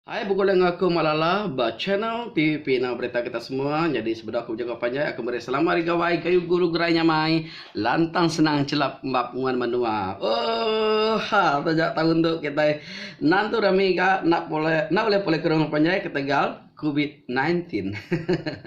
Ai begulai enggau aku Mak Lala ba channel tvp enggau berita kita semua nyadi sebedau aku bejaku panjai aku meri selamat ari gawai gayu guru gerai nyamai lantang senang chelap embap nguan menua ooh ha taja taun tu kitai nan tu rami ga enda pulai enda ulai pulai ke rumah panjai ketegal covid nineteen hehehe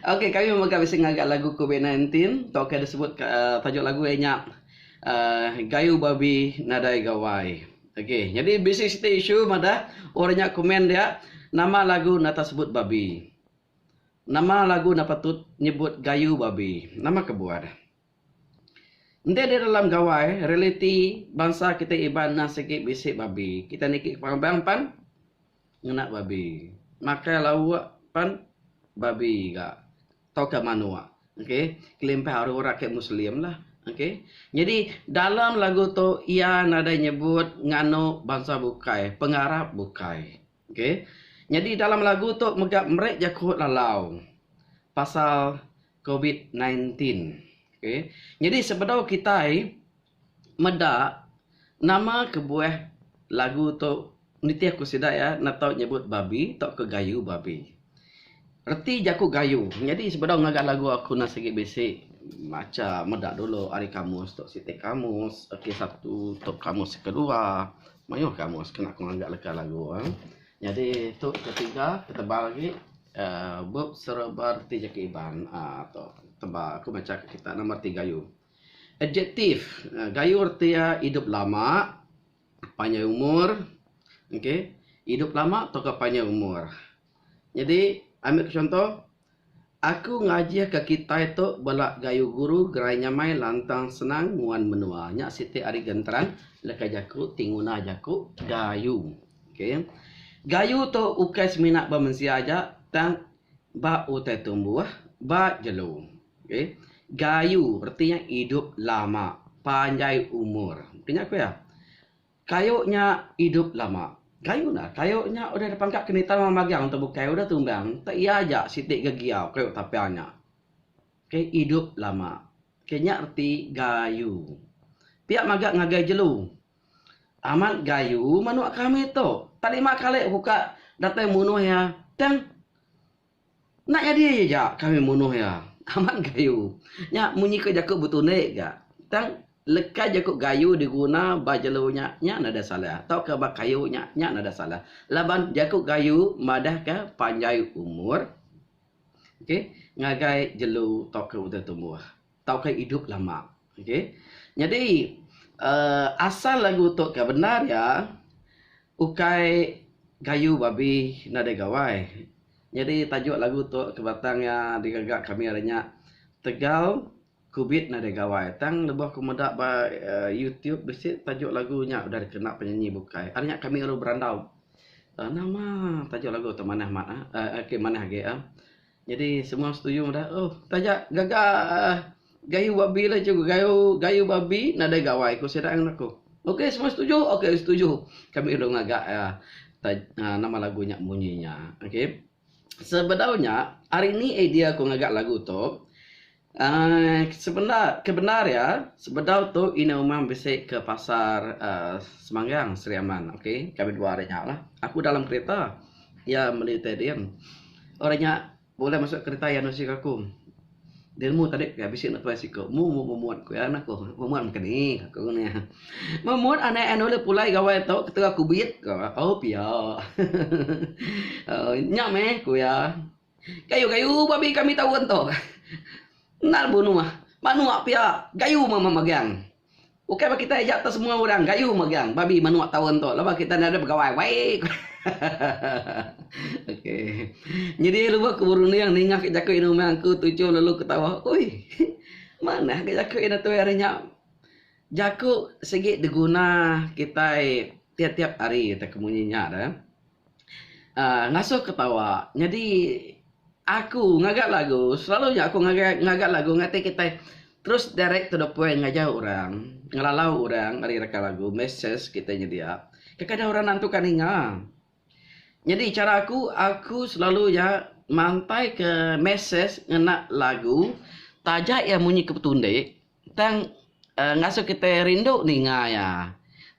ok kami mega bisi ngaga lagu covid nineteen tau ke disebut ka tajuk lagu iya nya uhh gayu babi nadai gawai. Okey, nyadi bisi siti isu madah orang nya komen dia, nama lagu nata sebut babi. Nama lagu nda patut nyebut gayu babi. Nama kebuah. Enti di dalam gawai realiti bansa kitai Iban enda sigi bisi babi, kitai niki ke pengabang pan. Ngena babi. Makai lauk pan babi ga tauka manok. Okay. Kelimpah ari orang ke Muslim lah. Okay. Nyadi dalam lagu tu iya nadai nyebut nganu bansa bukai, pengarap bukai. Okay. Nyadi dalam lagu tu mega meri jaku lalau pasal Covid nine teen okay nyadi sebedau kitai meda nama kebuah lagu tu nitih ku sida iya enda tau nyebut babi tauka gayu babi reti jaku gayu nyadi sebedau ngaga lagu aku enda sigi bisi macha meda dulu ari kamus tu siti kamus reti satu tu kamus kedua mayuh kamus kena ku ngaga leka lagu. Nyadi tu ketiga ketebal agi uhh bup serba reti jaki Iban uhh tu tebal aku macha ka kita nama reti gayu. Adjektif gayu reti iya idup lama, panjai umur okay idup lama tauka panjai umur. Nyadi ami ku chunto. Aku ngajihka kitai tu bala gayu guru gerai nyamai lantang senang nguan menua. Nya siti ari genteran leka jaku ti nguna jaku gayu. Okay. Gayu tu ukai semina ba mensia aja tang ba utai tumbuh, ba jelu. Okay. Gayu reti iya idup lama, panjai umur. Nya ku iya. Kayu nya idup lama. Kayu enda. Kayu nya udah dipangka ke nitau orang magang tu bukai udah tumbang tau iya aja siti ga giau kayu tapang nya. Ke idup lama. Ke nya reti gayu. Pia maga ngagai jelu. Amat gayu manuk kami tu. Tak lima kali ku ka datai munuh iya tang Enda nyadi ja kami munuh iya. Amat Gayu. Nya munyi ke jaku betundi ga. Tang leka jaku Gayu diguna ba jelu nya, nya nadai salah tauka ba kayu nya, nya nadai salah laban jaku Gayu madahka panjai umur, okey, ngagai jelu tauka utai tumbuh. tauka idup lama okey nyadi um asal lagu tu ka bendar iya ukai gayu babi nadai gawai nyadi tajuk lagu tu ka batang iya digaga kami hari nya tegal kubit nadai gawai tang lebuh ku meda ba youtube bisi tajuk lagu nya udah dikena penyanyi bukai ari nya kami baru berandau nama tajuk lagu tu manah mat manah agi Jadi semua setuju madah oh taja gaga gayu babi lah cikgu gayu gayu babi nadai gawai ku sida ngan aku. Ok semua setuju ok setuju kami lalu ngaga iya taj aaa nama lagu nya munyi nya. Ok sebedau nya hari ni idea ku ngaga lagu tu. Kebendar iya sebedau tu ina umang bisi ke pasar Semangang Sri Aman ok kami dua ari nya aku dalam kereta iya meli tai din ori nya bulih masuk kereta iya nusi aku din mu tadi pia bisi anak tuai siko mu mu memut ku iya ku memut meka ni ku iya memut anak iya nulih pulai gawai tu ketegal kubit ku iya oh pia nya meh ku iya. Gayu gayu babi kami taun tu. Endar bunua. Manua pia gayu mama magang. Ukai ba kitai aja tau semua orang gayu magang babi manua taun tu laban kitai enda ada begawai wai ko. ok. Nyadi lubah ku berunding ninga ke jaku inu meh angku tuchum lalu ketawa. Oi. Manah ga jaku ina tuai ari nya. Jaku sigi diguna kitai tiap-tiap hari te ke munyi nya de. um ngasuh ketawa nyadi aku ngaga lagu selalu nya aku ngaga ngaga lagu ngatai kitai terus direct to the point ngaja orang ngelalau orang ari reka lagu message kitai nyedia kadang kadang orang nantu ka ninga nyadi chara aku aku selalu iya mantai ke message ngena lagu taja iya munyi ke betundi. Tang ngasuh kitai rindu ninga iya.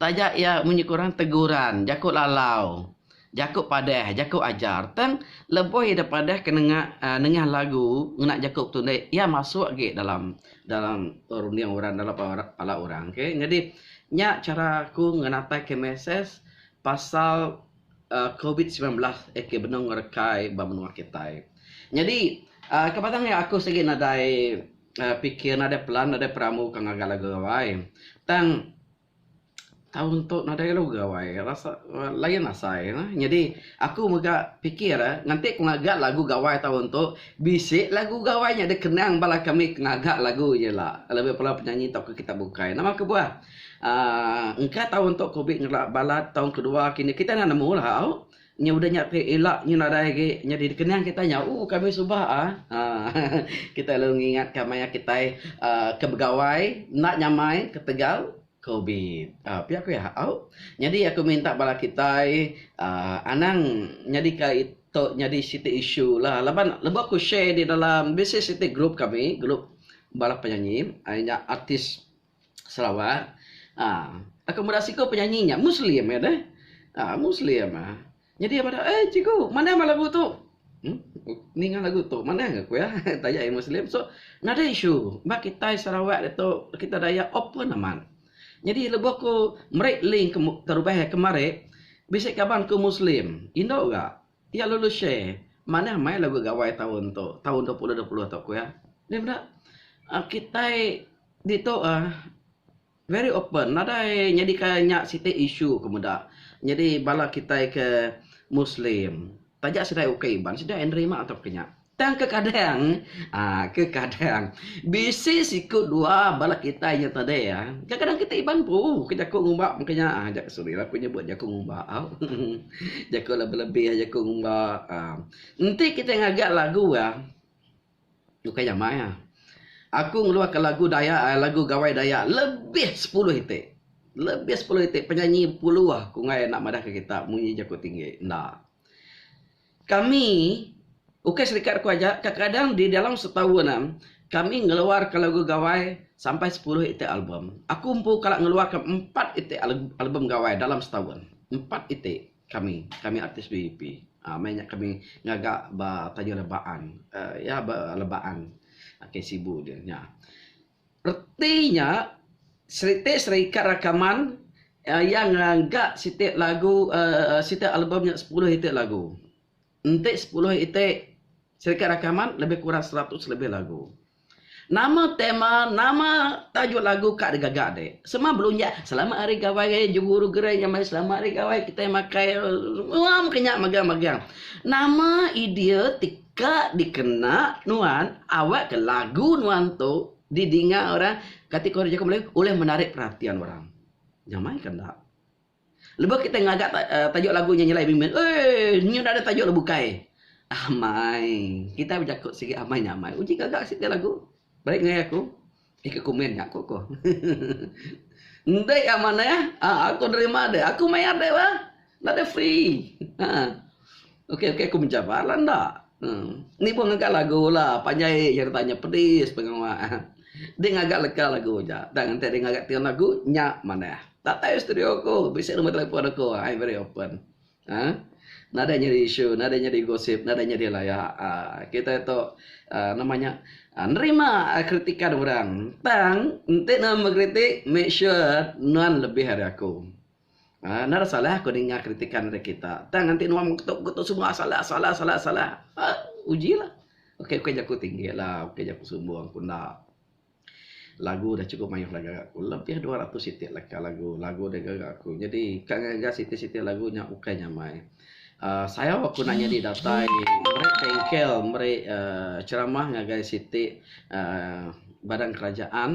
Taja iya munyi ke orang teguran, jaku lalau, jaku padah, jaku ajar. Tang lebuh iya deh padah ke nengah aaa nengah lagu ngena jaku betunder iya masuk agi dalam dalam runding orang dalam pala orang okay. Nyadi nya chara aku ngenatai ke mesej pasal aaa covid semilan belas aka benung ngerekai ba menua kitai. Nyadi aaa ke batang nya aku sigi nadai. pikir nadai pelan nadai perambu ke ngagai lagu Gawai. Tang taun tu nadai lagu Gawai rasa lain asai ne. Nyadi aku mega pikir eh nganti ku ngaga lagu Gawai taun tu bisi lagu Gawai nya deh kenang bala kami ke ngaga lagu nya ila. Lebih bala penyanyi tau ke kitai bukai. Nama kebuah aaa engka taun tu ku bi ngera balat taun kedua kini kitai enda nemu lah au. Nya udah nya ti ila nyu nadai agi nyadi dikenang kitai nya ooh kami suba ah aa kitai lalu ngingat ka maya kitai aa ke begawai enda nyamai ketegal covid aa pia ku iya au nyadi aku minta bala kitai aa anang nyadi ka ito nyadi siti isu la laban lebuh aku share di dalam bisi siti group kami group bala penyanyi ai nya artis. Sarawak uhh aku meda siku penyanyi nya muslim iya deh uhh muslim uhh nyadi iya madah eh cikgu manah mah lagu tu uhh ninga lagu tu manah ga ku iya taja iya muslim so another issue ba kitai sarawak ditu kitai dayak open amat nyadi lebuh ku meri link ke terubah iya kemari bisi kaban ku muslim indu ga. Iya lalu share, Manah meh lagu Gawai taun tu, taun dua puluh dua puluh tu, ku iya. Nya meda, uhh kitai ditu uhh very open, nadai nyadika nya siti isu ku meda. Nyadi bala kitai ke Muslim, taja sida ukai Iban, sida ai nerima tauka nya. Tang kekadang, aa, kekadang, bisi siku dua bala kitai nya tadi, aa, kekadang kitai iban empu ke jaku ngumba mungkin nya, aa, jak, sorry lah aku nyebut jaku ngumba au, jaku lebih-lebih jaku ngumba, aa, enti kitai ngaga lagu iya, bukai jamai ah. Aku ngeluarka lagu Dayak, aa, lagu Gawai Dayak lebih sepuluh iti, lebih sepuluh iti penyanyi bepuluh ku ngayan enda madahka kita munyi jaku tinggi, enda. Kami, ukai serikat aku aja, kadang-kadang di dalam setahun am, kami ngeluarka lagu gawai sampai sepuluh iti album. Aku empu kala ngeluarka empat iti album gawai dalam setahun. Empat iti kami, kami artis BUP. uhh meh nya kami ngaga ba Tanjung Lebaan. uhh iya ba Lebaan. Ke Sibu deh nya. Reti nya, siti serikat rakaman iya ngaga siti lagu siti album nya sepuluh iti lagu. Enti sepuluh iti serikat rakaman lebih kurang seratus lebih lagu. Nama tema, nama tajuk lagu ka digaga dik. Semua belunjak selamat hari gawai raya jeguru gerai nya meh selamat hari gawai kitai makai. Semua meh ke nya megang-megang. Nama idea ti. Ka dikena nuan awakka lagu nuan tu didinga orang kategori orang jaku Melayu ulih menarik perhatian orang. Nyamaika enda. Lebuh kitai ngaga tajuk lagu nya nyelai bimbit, Eii, nya enda ada tajuk lagu bukai. Amai. Kitai bejaku sigi amai nya amai. Uji ngaga siti lagu. Beri ngagai aku. Ika komen nya aku ko. Enti ya manah, ah, aku nerima deh. Aku mayar deh bah. Nda deh free. Ha. Okey okey aku menjawab lah nda. Hmm. Ni pun ngaga lagu lah. Panjai je tanya pedis pengawa. Dek ngaga leka lagu ja. Tang enti dek ngaga tengah lagu nya manah. Datai studio aku. Bisi nombor telefon aku. I very open. Aaa nadai nyadi isu nadai nyadi gosip nadai nyadi laya aaa kitai tu aaa nama nya aaa nerima kritikan orang tang enti ne mengkritik make sure nuan lebih ari aku aaa nang ada salah ku ninga kritikan ngagai kita tang enti nuan mengketup mengketup semua salah salah salah salah aaa uji lah ukai ukai jaku tinggi lah ukai jaku sumbung ku enda. Lagu da chukup mayuh lagu aku lebih dua ratus iti leka lagu. Lagu da gaga aku nyadi ka ngaga siti siti lagu nya ukai nyamai. uhh sayau aku enda nyadi datai meri bengkel meri uhh ceramah ngagai siti uhh badan kerajaan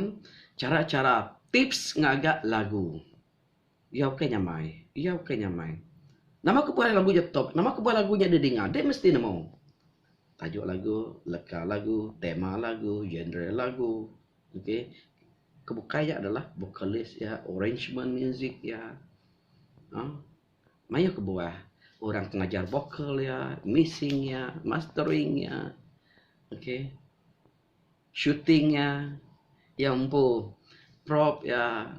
chara chara tips ngaga lagu. Iya ukai nyamai. Iya ukai nyamai. Nama kebuah lagu nya tok? Nama kebuah lagu nya deh dinga? Deh mesti nemu. Tajuk lagu, leka lagu, tema lagu, genre lagu. Okay. Ke bukai nya adalah vocalist iya, arrangement muzik iya. uhh Mayuh kebuah orang ti ngajar vocal iya, mixing iya, mastering iya. Okay. Shooting iya, iya empu prop iya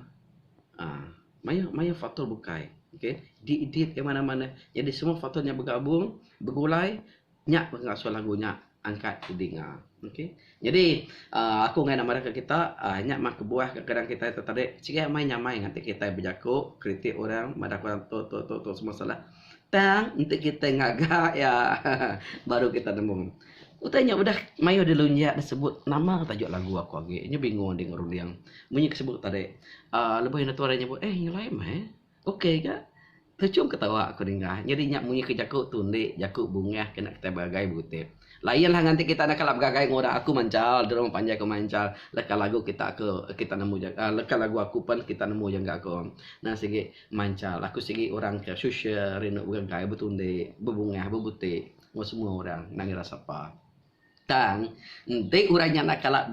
aaa mayuh mayuh faktor bukai. Okay, di edit iya manah manah. Jadi semua faktor nya begabung, begulai nya ke ngasuh lagu nya angkat dinga. Okay, jadi aaa aku ngaii ne madahka kita aaa nya mah kebuah ke kadang kitai tetarik. Sigi amai nyamai ngatik kitai bejaku kritik orang madahka orang tu tu tu semua salah. Tang enti kitai ngaga iya baru kitai nemu. Utai nya udah mayuh dilunjak disebut nama tajuk lagu aku agi. Nya bingung adi enggau runding. Munyi ke sebut tadi uhh lebuh indu tuai nyebut eh nyelai meh eh. Ok ga. Terchum ketawa aku dingah. Nyadi nya munyi ke jaku tu indi jaku bungah kena kitai beragai bukit. Lain lah nganti kita enda kala begagai enggau orang aku manchal drone panjai ko manchal leka lagu kita ko kita nemu jaga leka lagu aku pen kita nemu jaga ko nang sigi manchal aku sigi orang ke social rindu begagai betundi bebungah bebuti enggau semua orang nang ira sapa tang enti orang nya enda kala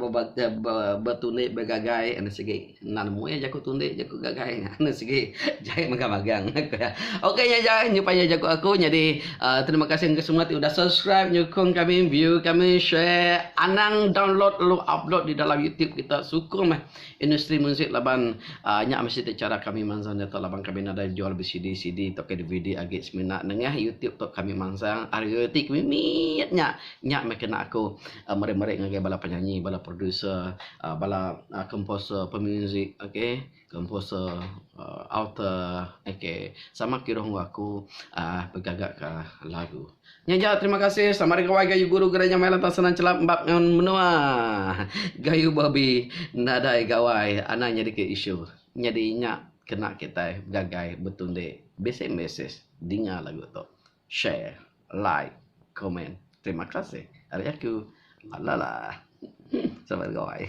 betundi begagai enda sigi Enda nemu iya jaku tu enti jaku gak gai nya. Enda sigi jai mega magang ku iya. Ok nya aja nyupa iya jaku aku nyadi uh, terima kasih engka semua ti udah subscribe nyukung kami view kami share anang download lalu upload di dalam YouTube kita sukung meh industri muzik laban uh, nya meh siti cara kami mansang nyata laban kami nadai jual BCD CD tauka DVD agi semina nengah YouTube tu kami mansang ari royalty kami mit nya nya meh kena aku Meri-meri ngagai bala penyanyi, bala producer, bala komposer pemuzik okay, komposer author okay sama kiruh enggau aku uhh begagaka lagu. Nya aja terima kasih. Selamat hari gawai gayu guru gereja maya lantang senang chelap embap ngan menua. Gayu babi nadai gawai anang nyadika isu. Nyadi nya kena kitai gagai betundi. Bisi mesej dinga lagu tu. Share, like, comment. Terima kasih ari aku. Lala. Sabar goi.